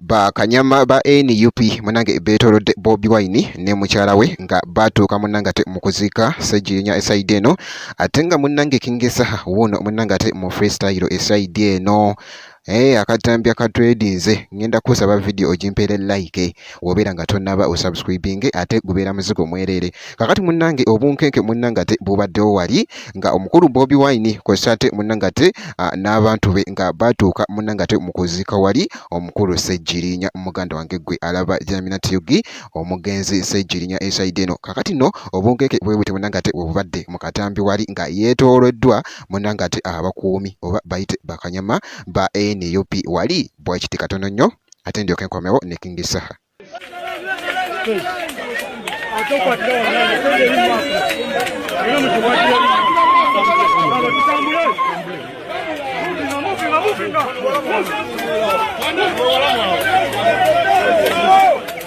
bakanyama ba nup munange betolodde bobi wine ne mukyala we nga batuuka munange ate mukuziika seginya esaidi eno ate nga munange kingesaha wuuno munange ate mu freestyle esaidi eno Hey, eh, akatambya katwedinze ngenda kusaba video ogimpere like wobeera nga tonaba osubscribing ate gubeera muzigo mwerere kakati munange obunkenke munange ate bubaddewo wali nga omukulu bobi wine kwesa ate munange ate n'abantu be nga batuuka munange ate mukuziika wali omukulu sejjirinya muganda wange gwe alaba jamina tyugi omugenzi sejjirinya esaide eno kakati no obunkenke bwebute munange ate bwebubadde mu katambi wali nga yeetooloddwa munange ate abakuumi oba bayite bakanyama ba nup wali bwakiti katono nnyo ate ndyoke nkomewo ne king saha Thank you.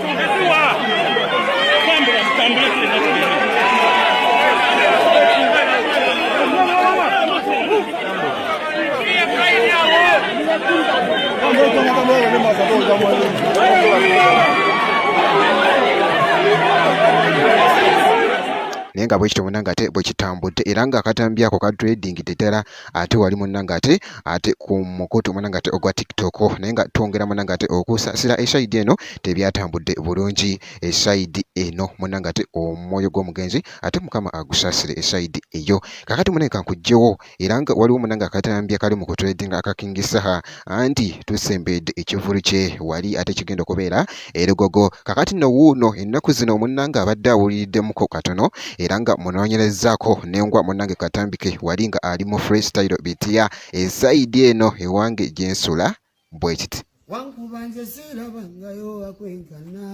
naye nga bwekityo munange ate bwekitambudde era nga akatambi ako kadredingidde ddala ate wali munange ate ate ku mukutu munange ate ogwa tiktok naye nga twongera munange ate okusaasira esaidi eno tebyatambudde bulungi esaidi eno munange ate omwoyo gw'omugenzi ate mukama agusaasire esaidi eyo kakati munange kankujjewo era nga waliwo munange akatambi akali mu kutredinga aka kingi saha anti tusembedde ekivulu kye wali ate kigenda okubeera erugogo kakati no wuuno ennaku zino munnange abadde awuliriddemukko katono era nga munoonyerezaako nengwa munnange katambike wali nga ali mu freestyle bitiya esaidi eno ewange gyensula bwekiti wankuba nze siirabangayo akwenkana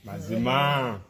mazima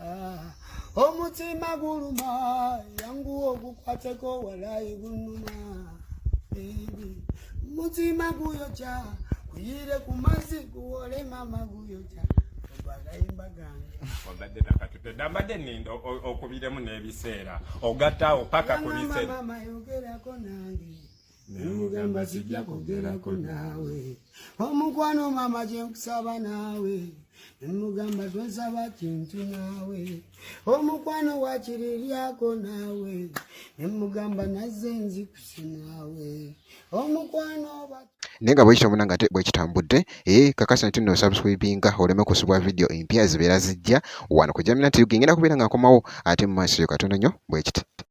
Ah, omutima guluma yangu ogukwateko walayi gunuma mutima guyoca kuyire ku mazzi guwole mama guyoca agayimba gange obadde nakatutedde mbadde ninda okubiremu n'ebiseera ogattaawo paka ku biseera nemugamba sijja kwogerako naawe omukwano maama gye nkusaba naawe nemugamba tonsaba kintu naawe omukwano wakiri lyako naawe nemugamba nazze nzikusi naawe omukwano oba naye nga bwekityo muna nga te bwekitambudde e eh, kakasa nti no subscribinga oleme kusubwa vidiyo empya zibeera zijja wano ku jamina tv ngenda kubeera nga nkomawo ate mu maaso yo katono nnyo bwekiti